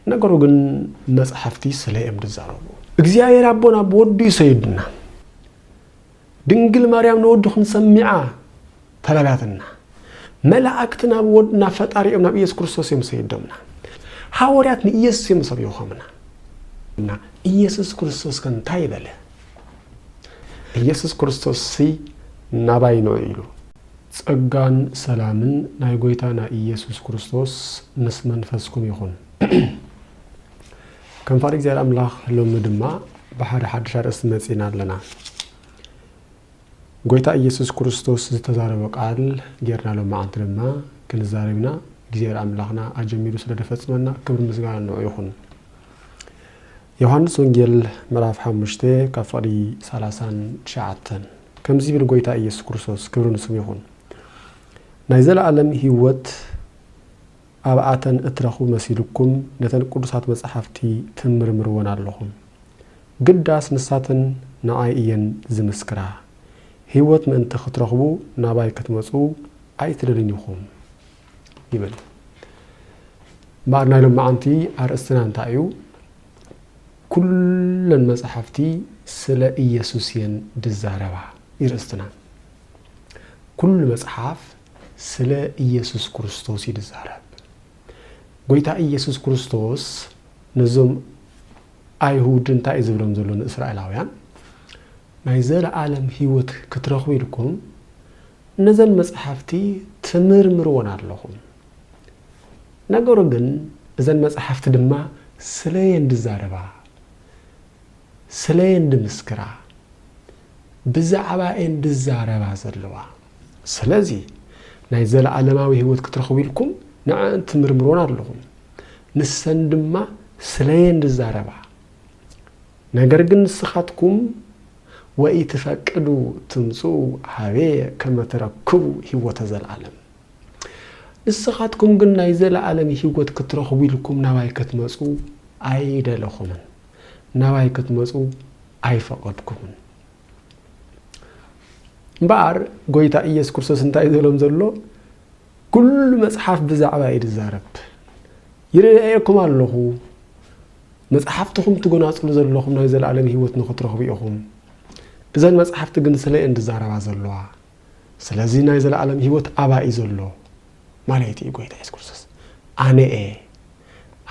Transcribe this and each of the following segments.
ነገሩ ግን መጻሕፍቲ ስለ እዮም ዝዛረቡ። እግዚኣብሔር ኣቦና ብወዱ እዩ ሰይዱና። ድንግል ማርያም ንወዱ ክንሰሚዓ ተላላትና። መላእክት ናብ ወድ ናብ ፈጣሪ እዮም ናብ ኢየሱስ ክርስቶስ እዮም ሰይዶምና። ሃወርያት ንኢየሱስ እዮም ሰቢኾምና። እና ኢየሱስ ክርስቶስ ከ እንታይ በለ? ኢየሱስ ክርስቶስ ሲ ናባይ ኑ ኢሉ። ጸጋን ሰላምን ናይ ጎይታና ኢየሱስ ክርስቶስ ምስ መንፈስኩም ይኹን። ከም ፍቓድ እግዚኣብሔር ኣምላኽ ሎሚ ድማ ብሓደ ሓድሽ ኣርእስቲ መጺእና ኣለና። ጎይታ ኢየሱስ ክርስቶስ ዝተዛረቦ ቃል ጌርና ሎሚ መዓልቲ ድማ ክንዛረብ ኢና። እግዚኣብሔር ኣምላኽና ኣጀሚሩ ስለ ደፈጽመና ክብሪ ምስጋና ንዑ ይኹን። ዮሓንስ ወንጌል ምዕራፍ ሓሙሽተ ካብ ፍቕዲ ሰላሳን ትሽዓተን ከምዚ ይብል ጎይታ ኢየሱስ ክርስቶስ ክብሪ ንስሙ ይኹን ናይ ዘለኣለም ህይወት ኣብኣተን እትረኽቡ መሲልኩም ነተን ቅዱሳት መጻሕፍቲ ትምርምርወን ኣለኹም ግዳስ ንሳተን ንኣይ እየን ዝምስክራ ህይወት ምእንቲ ክትረኽቡ ናባይ ክትመጹ ኣይትደልዩን ኢኹም ይብል። እምበኣር ናይ ሎማዓንቲ ኣርእስትና እንታይ እዩ? ኩለን መጽሓፍቲ ስለ ኢየሱስ እየን ድዛረባ እዩ ርእስትና። ኩሉ መጽሓፍ ስለ ኢየሱስ ክርስቶስ እዩ ድዛረብ። ጎይታ ኢየሱስ ክርስቶስ ነዞም ኣይሁድ እንታይ እዩ ዝብሎም ዘሎ ንእስራኤላውያን ናይ ዘለኣለም ህይወት ክትረኽቡ ኢልኩም ነዘን መጽሓፍቲ ትምርምርወን ኣለኹም። ነገሩ ግን እዘን መጽሓፍቲ ድማ ስለየን ድዛረባ፣ ስለየን ድምስክራ፣ ብዛዕባየን ድዛረባ ዘለዋ። ስለዚ ናይ ዘለዓለማዊ ህይወት ክትረኽቡ ኢልኩም ንዐኣን ትምርምርወን ኣለኹም። ንሰን ድማ ስለየን ድዛረባ። ነገር ግን ንስኻትኩም፣ ወኢትፈቅዱ ትምጽኡ ኀቤየ ከመ ትረክቡ ህይወተ ዘለዓለም ንስኻትኩም ግን ናይ ዘለዓለም ህይወት ክትረኽቡ ኢልኩም ናባይ ክትመጹ ኣይደለኹምን፣ ናባይ ክትመጹ ኣይፈቐድኩምን። እምበኣር ጐይታ ኢየሱስ ክርስቶስ እንታይ እዩ ዝበሎም ዘሎ? ኩሉ መጽሓፍ ብዛዕባ እዩ ዝዛረብ። ይርኣየኩም ኣለኹ፣ መጽሓፍትኹም ትጎናጽሉ ዘለኹም ናይ ዘለኣለም ህይወት ንኽትረኽቡ ኢኹም። እዘን መጽሓፍቲ ግን ስለ እየን ዝዛረባ ዘለዋ። ስለዚ ናይ ዘለኣለም ህይወት ኣባይ እዩ ዘሎ ማለት እዩ ጎይታ የሱስ ክርስቶስ። ኣነ እየ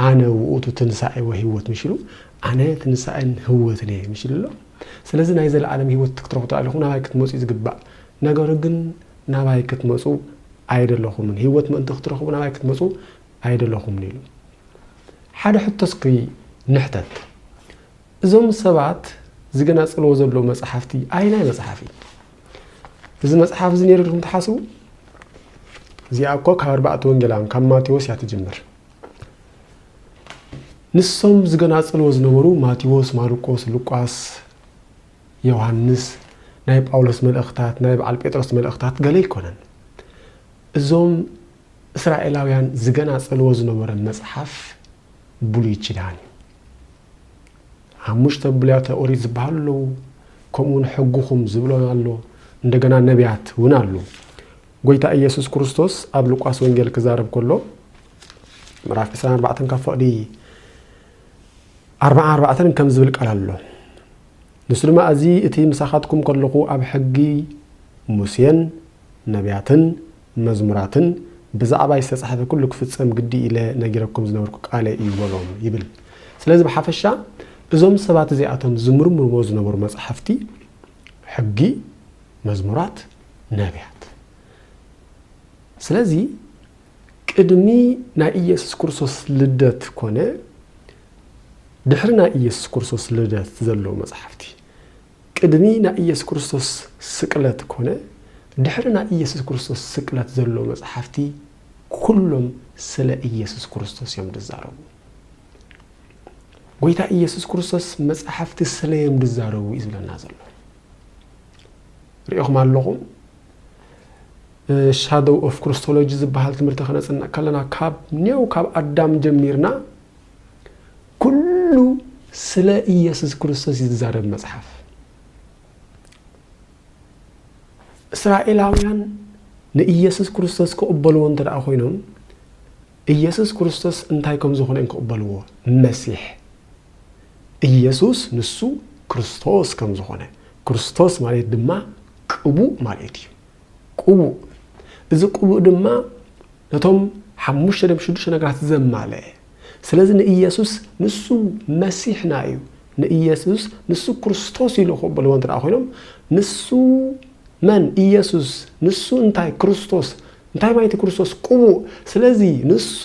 ኣነ ውእቱ ትንሳኤ ወህይወት ምሽ ኢሉ ኣነ ትንሳኤን ህወትን እየ ምሽ ኢሉ ኣሎ። ስለዚ ናይ ዘለኣለም ህይወት ክትረኽቡ ኣለኹም፣ ናባይ ክትመጹ እዩ ዝግባእ። ነገሩ ግን ናባይ ክትመጹ ኣይደለኹምን፣ ህይወት ምእንቲ ክትረኽቡ ናባይ ክትመጹ ኣይደለኹምን ኢሉ። ሓደ ሕቶ እስኪ ንሕተት፣ እዞም ሰባት ዝገናጽልዎ ዘለዉ መጽሓፍቲ ኣየናይ መጽሓፍ እዩ? እዚ መጽሓፍ እዚ ነይሩ ኢልኩም ትሓስቡ? እዚኣ እኮ ካብ ኣርባዕተ ወንጌላውያን ካብ ማቴዎስ እያ ትጅምር። ንሶም ዝገናጽልዎ ዝነበሩ ማቴዎስ፣ ማርቆስ፣ ሉቃስ፣ ዮሃንስ፣ ናይ ጳውሎስ መልእኽታት፣ ናይ በዓል ጴጥሮስ መልእኽታት ገለ ኣይኮነን። እዞም እስራኤላውያን ዝገናጸልዎ ዝነበረ መጽሓፍ ብሉይ ኪዳን እዩ። ሓሙሽተ ብሉያተ ኦሪት ዝበሃሉ ኣለዉ፣ ከምኡውን ሕግኹም ዝብሎን ኣሎ፣ እንደገና ነቢያት እውን ኣሉ። ጎይታ ኢየሱስ ክርስቶስ ኣብ ሉቃስ ወንጌል ክዛረብ ከሎ ምዕራፍ 24 ካብ ፈቕዲ 44 ከም ዝብል ቃል ኣሎ ንሱ ድማ እዚ እቲ ምሳኻትኩም ከለኹ ኣብ ሕጊ ሙሴን ነብያትን መዝሙራትን ብዛዕባይ ዝተጻሕፈ ኩሉ ክፍጸም ግዲ ኢለ ነጊረኩም ዝነበርኩ ቃለይ እዩ በሎም ይብል። ስለዚ ብሓፈሻ እዞም ሰባት እዚኣቶም ዝምርምርዎ ዝነበሩ መጻሕፍቲ ሕጊ፣ መዝሙራት፣ ነብያት። ስለዚ ቅድሚ ናይ ኢየሱስ ክርስቶስ ልደት ኮነ ድሕሪ ናይ ኢየሱስ ክርስቶስ ልደት ዘለዉ መጻሕፍቲ። ቅድሚ ናይ ኢየሱስ ክርስቶስ ስቅለት ኮነ ድሕሪ ናይ ኢየሱስ ክርስቶስ ስቅለት ዘለዉ መጻሕፍቲ ኩሎም ስለ ኢየሱስ ክርስቶስ እዮም ድዛረቡ። ጎይታ ኢየሱስ ክርስቶስ መጻሕፍቲ ስለዮም ድዛረቡ እዩ ዝብለና ዘሎ። ሪኢኹም ኣለኹም ሻዶው ኦፍ ክርስቶሎጂ ዝበሃል ትምህርቲ ከነጽንዕ ከለና ካብ ኔው ካብ ኣዳም ጀሚርና ኩሉ ስለ ኢየሱስ ክርስቶስ እዩ ዝዛረብ መጽሓፍ። እስራኤላውያን ንኢየሱስ ክርስቶስ ክቕበልዎ እንተ ደኣ ኮይኖም ኢየሱስ ክርስቶስ እንታይ ከም ዝኾነ እዮም ክቕበልዎ መሲሕ ኢየሱስ ንሱ ክርስቶስ ከም ዝኾነ ክርስቶስ ማለት ድማ ቅቡእ ማለት እዩ። ቅቡእ፣ እዚ ቅቡእ ድማ ነቶም ሓሙሽተ ነብ ሽዱሽተ ነገራት ዘማለኤ። ስለዚ ንኢየሱስ ንሱ መሲሕና እዩ፣ ንኢየሱስ ንሱ ክርስቶስ እዩ ልኹ በልዎ እንተ ኮይኖም ንሱ መን ኢየሱስ ንሱ እንታይ ክርስቶስ እንታይ ማይቲ ክርስቶስ ቅቡእ። ስለዚ ንሱ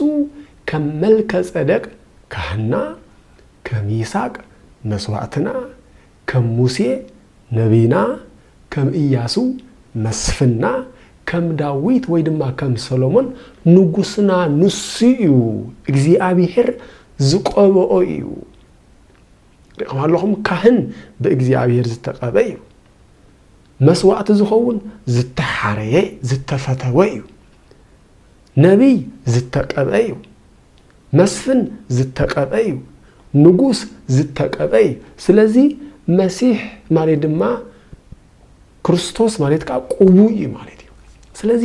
ከም መልከ ጸደቅ ካህና፣ ከም ይስቅ መስዋእትና፣ ከም ሙሴ ነብይና፣ ከም እያሱ መስፍንና፣ ከም ዳዊት ወይ ድማ ከም ሰሎሞን ንጉስና ንሱ እዩ፣ እግዚኣብሄር ዝቀበኦ እዩ። ሪእኹም ኣለኹም ካህን ብእግዚኣብሄር ዝተቀበ እዩ። መስዋእቲ ዝኸውን ዝተሓረየ ዝተፈተወ እዩ። ነቢይ ዝተቀብአ እዩ። መስፍን ዝተቀበ እዩ ንጉስ ዝተቀበ እዩ ስለዚ መሲሕ ማለት ድማ ክርስቶስ ማለት ከዓ ቅቡእ እዩ ማለት እዩ ስለዚ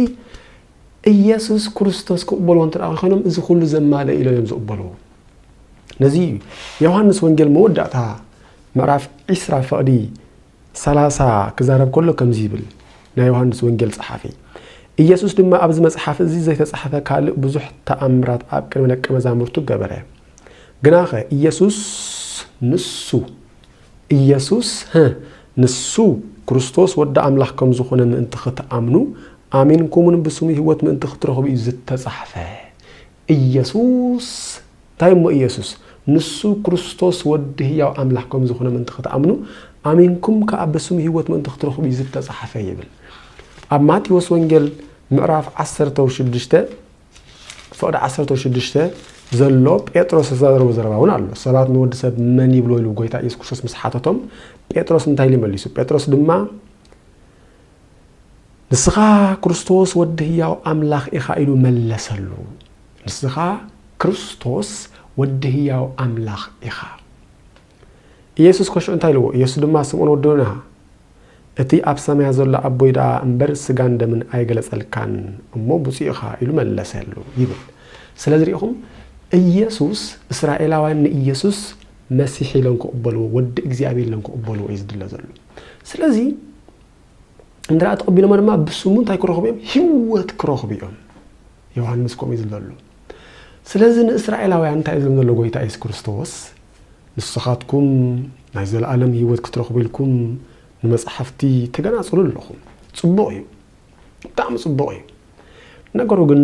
ኢየሱስ ክርስቶስ ክቕበልዎ እንተ ኮይኖም እዚ ኩሉ ዘማለ ኢሎም እዮም ዝቕበልዎ ነዚ ዮሃንስ ወንጌል መወዳእታ ምዕራፍ ዒስራ ፈቕዲ ሰላሳ ክዛረብ ከሎ ከምዚ ይብል፣ ናይ ዮሃንስ ወንጌል ጸሓፊ። ኢየሱስ ድማ ኣብዚ መጽሓፍ እዚ ዘይተጻሕፈ ካልእ ብዙሕ ተኣምራት ኣብ ቅድሚ ደቀ መዛሙርቱ ገበረ። ግናኸ ኢየሱስ ንሱ፣ ኢየሱስ፣ ህ፣ ንሱ ክርስቶስ ወዲ ኣምላኽ ከም ዝኾነ ምእንቲ ኽትኣምኑ፣ ኣሚንኩምውን ብስሙ ህይወት ምእንቲ ኽትረኽቡ እዩ ዝተጻሕፈ። ኢየሱስ! እንታይ እሞ ኢየሱስ? ንሱ ክርስቶስ ወዲ ህያው ኣምላኽ ከም ዝኹነ ምእንቲ ክትኣምኑ፣ ኣሚንኩም ከኣ ብስሙ ህይወት ምእንቲ ክትረኽቡ እዩ እዚ እተጻሕፈ ይብል። ኣብ ማቴዎስ ወንጌል ምዕራፍ ዓሰርተው ሽዱሽተ ፍቕዲ ዓሰርተው ሽዱሽተ ዘሎ ጴጥሮስ ዝተዛረቦ ዘረባ እውን ኣሎ። ሰባት ንወዲ ሰብ መን ይብልዎ ኢሉ ጎይታ ኢየሱስ ክርስቶስ ምስ ሓተቶም ጴጥሮስ እንታይ ኢሉ መሊሱ? ጴጥሮስ ድማ ንስኻ ክርስቶስ ወዲ ህያው ኣምላኽ ኢኻ ኢሉ መለሰሉ። ንስኻ ክርስቶስ ወዲ ህያው ኣምላኽ ኢኻ። ኢየሱስ ከሽዑ እንታይ ኢልዎ? ኢየሱስ ድማ ስምዖን ወዲ ዮና እቲ ኣብ ሰማያ ዘሎ ኣቦይ ደኣ እምበር ስጋን ደምን ኣይገለጸልካን እሞ ብፁዕ ኢኻ ኢሉ መለሰሉ ይብል። ስለዚ ርኢኹም ኢየሱስ እስራኤላውያን ንኢየሱስ መሲሕ ኢሎም ክቕበልዎ ወዲ እግዚኣብሔር ኢሎም ክቕበልዎ እዩ ዝድለ ዘሎ። ስለዚ እንድርኣ ተቐቢሎሞ ድማ ብስሙ እንታይ ክረኽቡ እዮም? ህይወት ክረኽቡ እዮም። ዮሃንስ ከምኡ እዩ ዝበሉ። ስለዚ ንእስራኤላውያን እንታይ እዩ ዝብሎም ዘሎ ጎይታ የሱስ ክርስቶስ? ንስኻትኩም ናይ ዘለኣለም ህይወት ክትረኽቡ ኢልኩም ንመጽሓፍቲ ተገናጽሉ ኣለኹም። ጽቡቕ እዩ፣ ብጣዕሚ ጽቡቕ እዩ። ነገሩ ግን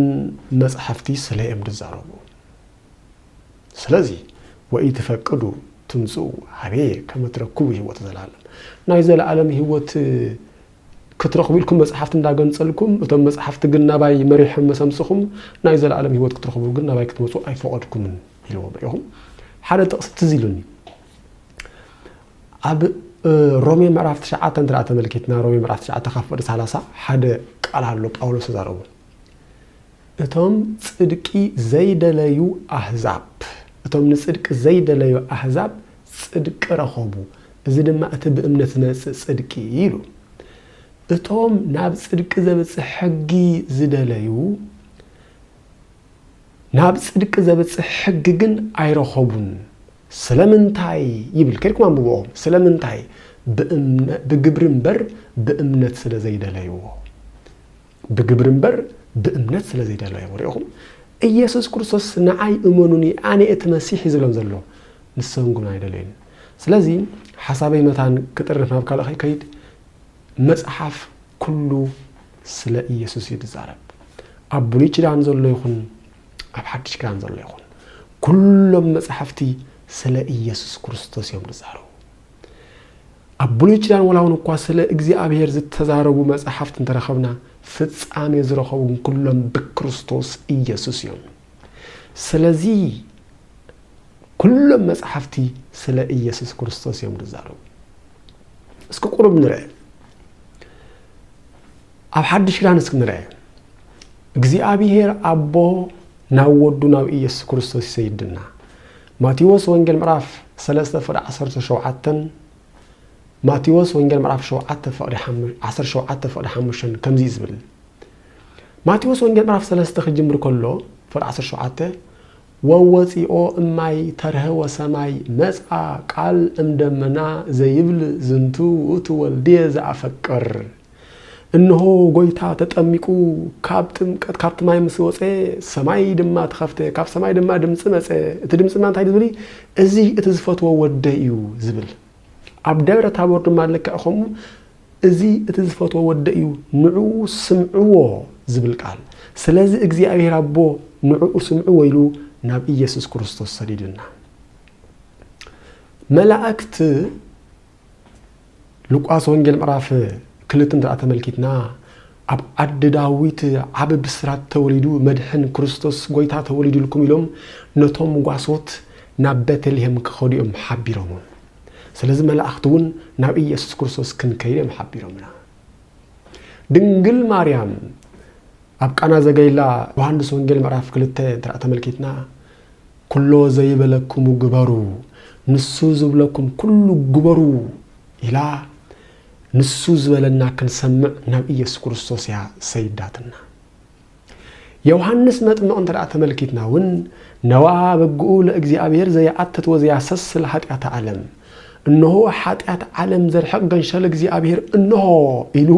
መጽሓፍቲ ስለ እዮም ዝዛረቡ። ስለዚ ወኢትፈቅዱ ትምጽኡ ኀቤየ ከመ ትረክቡ ሕይወተ ዘለዓለም፣ ናይ ዘለዓለም ሕይወት ክትረኽቡ ኢልኩም መጻሕፍቲ እንዳገንጸልኩም፣ እቶም መጻሕፍቲ ግን ናባይ መሪሖም መስ ኣምጽኹም፣ ናይ ዘለዓለም ሕይወት ክትረኽቡ ግን ናባይ ክትመጹ ኣይፈቐድኩምን ኢልዎም ርኢኹም። ሓደ ጥቕሲ ትዝ ኢሉኒ ኣብ ሮሜ ምዕራፍ ትሽዓተ እንተ ተመልኪትና ሮሜ ምዕራፍ ትሽዓተ ካብ ፍቕዲ ሰላሳ ሓደ ቃል ኣሎ ጳውሎስ ተዛረቡ እቶም ጽድቂ ዘይደለዩ ኣህዛብ እቶም ንጽድቂ ዘይደለዩ ኣህዛብ ጽድቂ ረኸቡ፣ እዚ ድማ እቲ ብእምነት ዝመጽእ ጽድቂ እዩ ኢሉ። እቶም ናብ ጽድቂ ዘብጽሕ ሕጊ ዝደለዩ ናብ ጽድቂ ዘብጽሕ ሕጊ ግን ኣይረኸቡን። ስለምንታይ ይብል ከድኩም ኣንብብኦ። ስለምንታይ ብግብሪ እምበር ብእምነት ስለ ዘይደለይዎ። ብግብሪ እምበር ብእምነት ስለ ዘይደለዮም ርኢኹም ኢየሱስ ክርስቶስ ንዓይ እመኑኒ ኣነ እቲ መሲሕ ዝብሎም ዘሎ ንሶም ግን ኣይደለዩን ስለዚ ሓሳበይ መታን ክጥርፍ ናብ ካልእ ከይከይድ መጽሓፍ ኩሉ ስለ ኢየሱስ እዩ ዝዛረብ ኣብ ብሉይ ኪዳን ዘሎ ይኹን ኣብ ሓድሽ ኪዳን ዘሎ ይኹን ኩሎም መጽሓፍቲ ስለ ኢየሱስ ክርስቶስ እዮም ዝዛረቡ ኣብ ብሉይ ኪዳን ወላውን እኳ ስለ እግዚኣብሔር ዝተዛረቡ መጻሕፍት እንተረኸብና ፍጻሜ ዝረኸቡ ግን ኩሎም ብክርስቶስ ኢየሱስ እዮም። ስለዚ ኩሎም መጻሕፍቲ ስለ ኢየሱስ ክርስቶስ እዮም ዝዛረቡ። እስኪ ቁሩብ ንርኤ። ኣብ ሓድሽ ኪዳን እስኪ ንርኤ። እግዚኣብሔር ኣቦ ናብ ወዱ ናብ ኢየሱስ ክርስቶስ ይሰይድና። ማቴዎስ ወንጌል ምዕራፍ ሰለስተ ፍቕዲ ዓሰርተ ሸውዓተን ማቴዎስ ወንጌል ምዕራፍ ሸውዓተ ፍቕዲ ዓሰርተ ሸውዓተ ፍቕዲ ሓሙሽተን ከምዚ እዩ ዝብል ማቴዎስ ወንጌል ምዕራፍ ሰለስተ ክጅምር ከሎ ፍቕዲ ዓሰርተ ሸውዓተ ወወፂኦ እማይ ተርሀ ወሰማይ መፅኣ ቃል እምደመና ዘይብል ዝንቱ ውእቱ ወልድየ ዘኣፈቅር እንሆ ጎይታ ተጠሚቁ ካብ ጥምቀት ካብቲ ማይ ምስ ወፀ ሰማይ ድማ ተኸፍተ ካብ ሰማይ ድማ ድምፂ መፀ እቲ ድምፂ ድማ እንታይ ዝብል እዚ እቲ ዝፈትዎ ወደ እዩ ዝብል ኣብ ደብረ ታቦር ድማ ልክዕ ከምኡ እዚ እቲ ዝፈትዎ ወደ እዩ ንዑ ስምዕዎ ዝብል ቃል ስለዚ እግዚኣብሔር ኣቦ ንዕኡ ስምዕዎ ኢሉ ናብ ኢየሱስ ክርስቶስ ሰዲዱና መላእክት ሉቃስ ወንጌል ምዕራፍ ክልተ እንተ ተመልኪትና ኣብ ዓዲ ዳዊት ዓብ ብስራት ተወሊዱ መድሕን ክርስቶስ ጎይታ ተወሊዱልኩም ኢሎም ነቶም ጓሶት ናብ ቤተልሄም ክኸዱ እዮም ሓቢሮሞም ስለዚ መላእኽቲ እውን ናብ ኢየሱስ ክርስቶስ ክንከይድ እዮም ሓቢሮምና ድንግል ማርያም ኣብ ቃና ዘገሊላ ዮሃንስ ወንጌል ምዕራፍ ክልተ እንተ ተመልኪትና ኵሎ ዘይበለክሙ ግበሩ፣ ንሱ ዝብለኩም ኵሉ ግበሩ ኢላ ንሱ ዝበለና ክንሰምዕ ናብ ኢየሱስ ክርስቶስ እያ ሰይዳትና። ዮውሃንስ መጥምቕ እንተ ተመልኪትና እውን ነዋ በግኡ ለእግዚኣብሔር ዘየኣትት ወዘያሰስል ኃጢኣተ ዓለም እነሆ ኃጢኣት ዓለም ዘርሕቕ ገንሸል እግዚኣብሔር እነሆ ኢሉ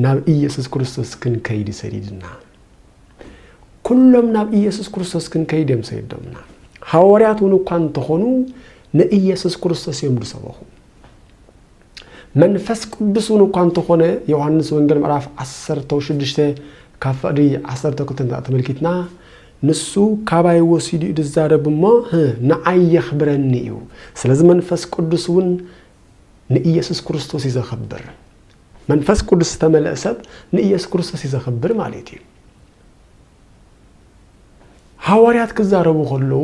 ናብ ኢየሱስ ክርስቶስ ክንከይድ ሰዲድና። ኩሎም ናብ ኢየሱስ ክርስቶስ ክንከይድ እዮም ሰይዶምና። ሃዋርያት እውን እኳ እንተኾኑ ንኢየሱስ ክርስቶስ እዮም ዝሰበኹ። መንፈስ ቅዱስ እውን እኳ እንተኾነ ዮሐንስ ወንጌል ምዕራፍ 16 ካብ ፍቕዲ 12 እንዳ ተመልኪትና ንሱ ካባይ ወሲዱ እዩ ዝዛረብ እሞ ንዓይ የኽብረኒ እዩ። ስለዚ መንፈስ ቅዱስ እውን ንኢየሱስ ክርስቶስ እዩ ዘኽብር። መንፈስ ቅዱስ ዝተመልአ ሰብ ንኢየሱስ ክርስቶስ እዩ ዘኽብር ማለት እዩ። ሃዋርያት ክዛረቡ ከለዉ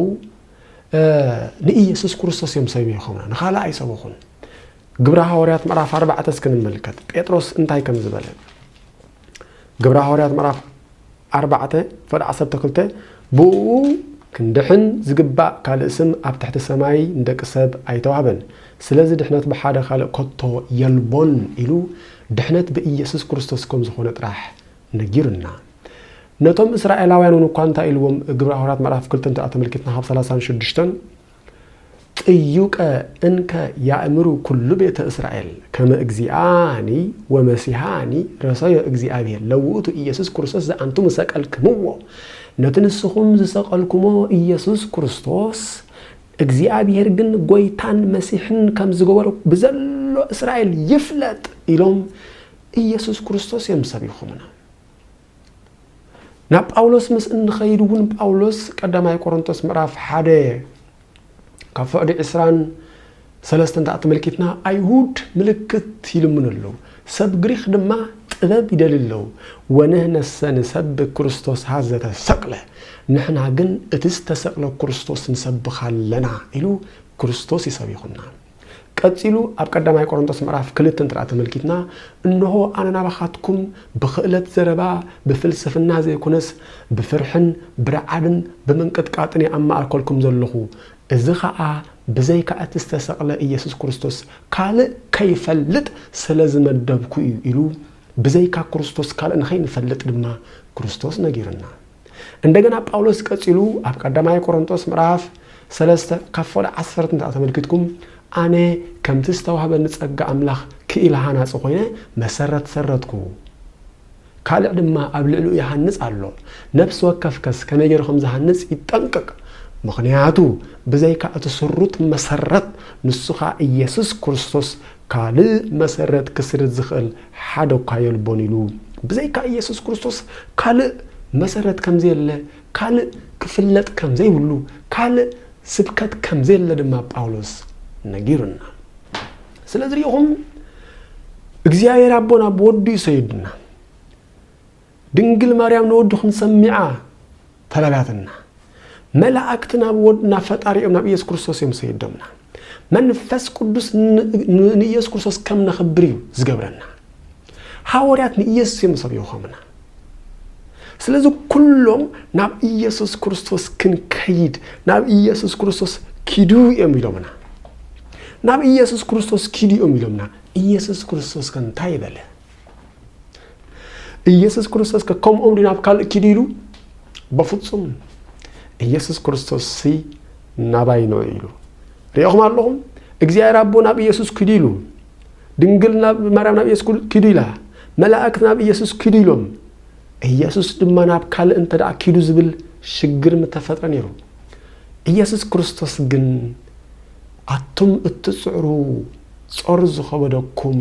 ንኢየሱስ ክርስቶስ እዮም ሰቢኾምና ንኻልእ ኣይሰበኹን። ግብረ ሃዋርያት ምዕራፍ ኣርባዕተ እስኪ ንመልከት ጴጥሮስ እንታይ ከም ዝበለ ግብረ ሃዋርያት ምዕራፍ ኣርባዕተ ፈቅ ዓሰርተ ክልተ ብእኡ ክንድሕን ዝግባእ ካልእ ስም ኣብ ትሕቲ ሰማይ ንደቂ ሰብ ኣይተዋህበን፣ ስለዚ ድሕነት ብሓደ ካልእ ከቶ የልቦን ኢሉ ድሕነት ብኢየሱስ ክርስቶስ ከም ዝኾነ ጥራሕ ነጊሩና። ነቶም እስራኤላውያን እውን እኳ እንታይ ኢልዎም ግብረ ሃዋርያት ምዕራፍ ክልተ እንተድኣ ተመልኪትና ካብ ሰላሳን ሽዱሽተን፣ ጥዩቀ እንከ ያእምሩ ኩሉ ቤተ እስራኤል ከመ እግዚኣኒ ወመሲሓኒ ረሰዮ እግዚኣብሔር ለውእቱ ኢየሱስ ክርስቶስ ዘኣንቱሙ ሰቀልክምዎ ነቲ ንስኹም ዝሰቀልኩሞ ኢየሱስ ክርስቶስ እግዚኣብሔር ግን ጎይታን መሲሕን ከም ዝገበሮ ብዘሎ እስራኤል ይፍለጥ ኢሎም ኢየሱስ ክርስቶስ እዮም ሰቢኹምና። ናብ ጳውሎስ ምስ እንኸይድ እውን ጳውሎስ ቀዳማይ ቆሮንቶስ ምዕራፍ ሓደ ካብ ፍቕዲ ዕስራን ሰለስተን ተኣተመልኪትና ኣይሁድ ምልክት ይልምኑ ኣለዉ ሰብ ግሪኽ ድማ ጥበብ ይደል ኣለዉ ወንህነሰ ንሰብ ክርስቶስ ሃዘ ተሰቅለ ንሕና ግን እቲ ዝተሰቅለ ክርስቶስ ንሰብኻ ኣለና ኢሉ ክርስቶስ ይሰቢኹና ቀጺሉ ኣብ ቀዳማይ ቆሮንቶስ ምዕራፍ ክልተ እንተ ተመልኪትና እንሆ ኣነ ናባኻትኩም ብኽእለት ዘረባ ብፍልስፍና ዘይኮነስ ብፍርሕን ብርዓድን ብምንቅጥቃጥን እየ ኣማኣልከልኩም ዘለኹ እዚ ኸኣ ብዘይካ እቲ ዝተሰቕለ ኢየሱስ ክርስቶስ ካልእ ከይፈልጥ ስለ ዝመደብኩ እዩ ኢሉ ብዘይካ ክርስቶስ ካልእ ንኸይንፈልጥ ድማ ክርስቶስ ነጊሩና። እንደገና ጳውሎስ ቀጺሉ ኣብ ቀዳማይ ቆሮንቶስ ምዕራፍ ሰለስተ ካብ ፈሎ ዓሰርተ እንተ ተመልኪትኩም ኣነ ከምቲ ዝተዋህበኒ ጸጋ ኣምላኽ ክኢላ ሃናጺ ኮይነ መሰረት ሰረትኩ ካልዕ ድማ ኣብ ልዕሊኡ ይሃንጽ ኣሎ ነፍሲ ወከፍ ከስ ከመይ ገይሩ ከም ዝሃንጽ ይጠንቅቅ ምኽንያቱ ብዘይካ እቲ ስሩት መሰረት ንሱ ኸኣ ኢየሱስ ክርስቶስ ካልእ መሰረት ክስርት ዝኽእል ሓደኳ የልቦን ኢሉ። ብዘይካ ኢየሱስ ክርስቶስ ካልእ መሰረት ከምዘየለ፣ ካልእ ክፍለጥ ከምዘይብሉ፣ ካልእ ስብከት ከምዘየለ ድማ ጳውሎስ ነጊሩና። ስለዚ ርኢኹም እግዚኣብሔር ኣቦና ብወዱ እዩ ሰይዱና። ድንግል ማርያም ንወድኹም ሰሚዓ ተላላትና። መላእክት ናብ ወድ ናብ ፈጣሪ እዮም ናብ ኢየሱስ ክርስቶስ እዮም ሰይዶምና። መንፈስ ቅዱስ ንኢየሱስ ክርስቶስ ከም ነኽብር እዩ ዝገብረና። ሃወርያት ንኢየሱስ እዮም ሰብዮኸምና። ስለዚ ኩሎም ናብ ኢየሱስ ክርስቶስ ክንከይድ ናብ ኢየሱስ ክርስቶስ ኪዱ እዮም ኢሎምና ናብ ኢየሱስ ክርስቶስ ኪዱ እዮም ኢሎምና ኢየሱስ ክርስቶስ ከ እንታይ በለ ኢየሱስ ክርስቶስ ከምኦም ዲ ናብ ካልእ ኪዱ ኢሉ በፍጹም ኢየሱስ ክርስቶስ ሲ ናባይ ነው ኢሉ ሪኦኹም ኣለኹም እግዚኣብሔር ኣቦ ናብ ኢየሱስ ኪዱ ኢሉ ድንግል ናብ ማርያም ናብ ኢየሱስ ኪዱ ኢላ መላእክት ናብ ኢየሱስ ኪዱ ኢሎም ኢየሱስ ድማ ናብ ካልእ እንተ ደኣ ኪዱ ዝብል ሽግር ምተፈጥረ ነይሩ ኢየሱስ ክርስቶስ ግን ኣቱም እትጽዕሩ ጾር ዝኸበደኩም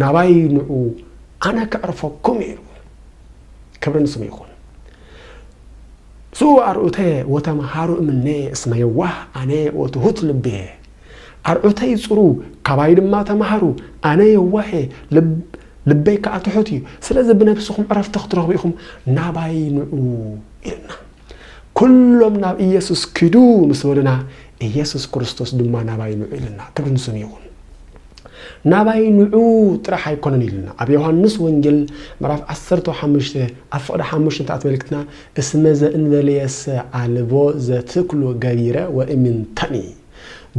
ናባይ ንዑ ኣነ ከዕርፈኩም እየ ኢሉ። ክብሪ ንስሙ ይኹን። ስኡ ኣርዑተ ወተምሃሩ እምኔየ እስመ የዋህ ኣነ ወትሁት ልቤየ ኣርዑተይ ጽሩ ካባይ ድማ ተምሃሩ ኣነ የዋህ ልበይ ከዓ ትሑት እዩ ስለዚ ብነብስኹም ዕረፍቲ ክትረኽቡ ኢኹም ናባይ ንዑ ኢልና ኩሎም ናብ ኢየሱስ ኪዱ ምስ በሉና ኢየሱስ ክርስቶስ ድማ ናባይ ንዑ ኢሉና። ክብሪ ንስሙ ይኹን። ናባይ ንዑ ጥራሕ ኣይኮነን ኢሉና። ኣብ ዮሐንስ ወንጌል ምዕራፍ ዓሰርተ ሓሙሽተ ኣብ ፍቕዲ ሓሙሽተ እንተ ኣተመልክትና እስመ ዘእንበሌየሰ ኣልቦ ዘትክሉ ገቢረ ወእምንተኒ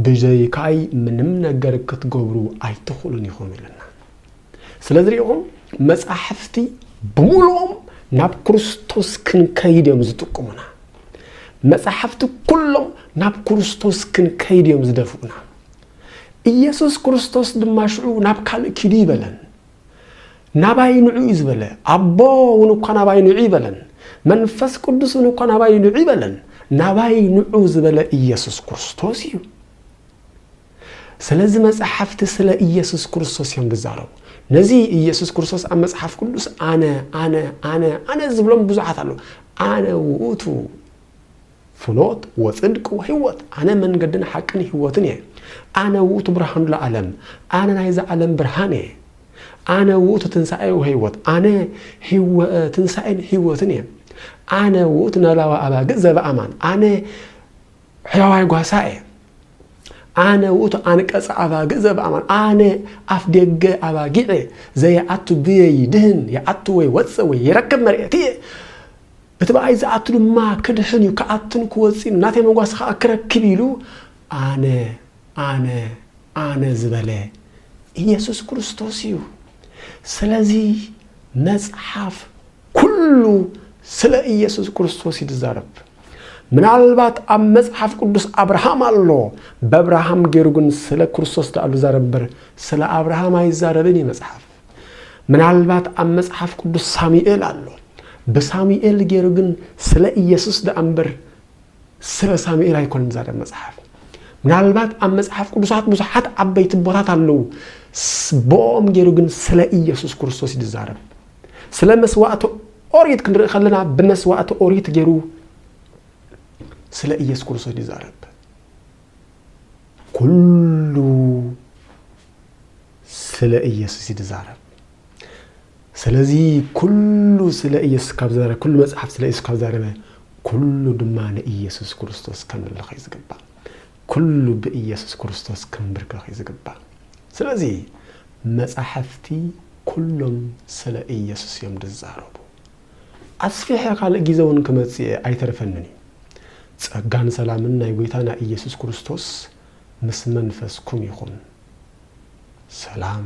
ብጀይካይ ምንም ነገር ክትገብሩ ኣይትኽእሉን ኢኹም ኢሉና። ስለዚ ሪኢኹም መጻሕፍቲ ብምሉኦም ናብ ክርስቶስ ክንከይድ እዮም ዝጥቁሙና። መጻሕፍቲ ኩሎም ናብ ክርስቶስ ክንከይድ እዮም ዝደፍኡና። ኢየሱስ ክርስቶስ ድማ ሽዑ ናብ ካልእ ኪዱ ይበለን። ናባይ ንዑ እዩ ዝበለ። ኣቦ እውን እኳ ናባይ ንዑ ይበለን። መንፈስ ቅዱስ እውን እኳ ናባይ ንዑ ይበለን። ናባይ ንዑ ዝበለ ኢየሱስ ክርስቶስ እዩ። ስለዚ መጻሕፍቲ ስለ ኢየሱስ ክርስቶስ እዮም ዝዛረቡ። ነዚ ኢየሱስ ክርስቶስ ኣብ መጽሓፍ ቅዱስ ኣነ ኣነ ኣነ ኣነ ዝብሎም ብዙሓት ኣለዉ። ኣነ ውእቱ ፍኖት ወጽድቅ ወሕይወት፣ ኣነ መንገድን ሓቅን ሕይወትን እየ። ኣነ ውእቱ ብርሃኑ ለዓለም፣ ኣነ ናይዚ ዓለም ብርሃን እየ። ኣነ ውእቱ ትንሣኤ ወሕይወት፣ ኣነ ትንሣኤን ሕይወትን እየ። ኣነ ውእቱ ነባባ ኣባግዕ ዘበኣማን፣ ኣነ ሕያዋይ ጓሳ እየ ኣነ ውእቱ ኣንቀጸ ኣባግዕ ዘበኣማን ኣነ ኣፍ ደገ ኣባጊዕ ዘየኣቱ ብየ ይድህን የኣቱ ወይ ወፅእ ወይ ይረክብ መርኤት እየ እቲ በኣይ ዝኣቱ ድማ ክድሕን እዩ ክኣቱን ክወፅእን ናተይ መጓስ ከዓ ክረክብ ኢሉ ኣነ ኣነ ኣነ ዝበለ ኢየሱስ ክርስቶስ እዩ። ስለዚ መጽሓፍ ኩሉ ስለ ኢየሱስ ክርስቶስ እዩ ዝዛረብ። ምናልባት ኣብ መጽሓፍ ቅዱስ ኣብርሃም ኣሎ፣ በብርሃም ገይሩ ግን ስለ ክርስቶስ ደኣ ዝዛረብ እምበር ስለ ኣብርሃም ኣይዛረብን እዩ መጽሓፍ። ምናልባት ኣብ መጽሓፍ ቅዱስ ሳሙኤል ኣሎ፣ ብሳሙኤል ገይሩ ግን ስለ ኢየሱስ ደኣ እምበር ስረ ሳሙኤል ኣይኮነን ዛደብ መጽሓፍ ምናልባት ኣብ መጽሓፍ ቅዱሳት ብዙሓት ዓበይቲ ቦታት ኣለዉ ቦኦም ገይሩ ግን ስለ ኢየሱስ ክርስቶስ እዩ ዝዛረብ ስለ መስዋእቲ ኦሪት ክንርኢ ከለና ብመስዋእቲ ኦሪት ገይሩ ስለ ኢየሱስ ክርስቶስ ይዛረብ ኩሉ ስለ ኢየሱስ ይዛረብ ስለዚ ኩሉ ስለ ኢየሱስ ካብ ዝዛረበ ኩሉ መጽሓፍ ስለ ኢየሱስ ካብ ዛረበ ኩሉ ድማ ንኢየሱስ ክርስቶስ ከምልኽ እዩ ዝግባእ። ኩሉ ብኢየሱስ ክርስቶስ ክምብርከኽ እዩ ዝግባእ። ስለዚ መጻሕፍቲ ኩሎም ስለ ኢየሱስ እዮም ዝዛረቡ። ኣስፊሐ ካልእ ጊዘ እውን ክመጽእ እየ ኣይተርፈንን እዩ። ጸጋን ሰላምን ናይ ጎይታና ኢየሱስ ክርስቶስ ምስ መንፈስኩም ይኹን። ሰላም።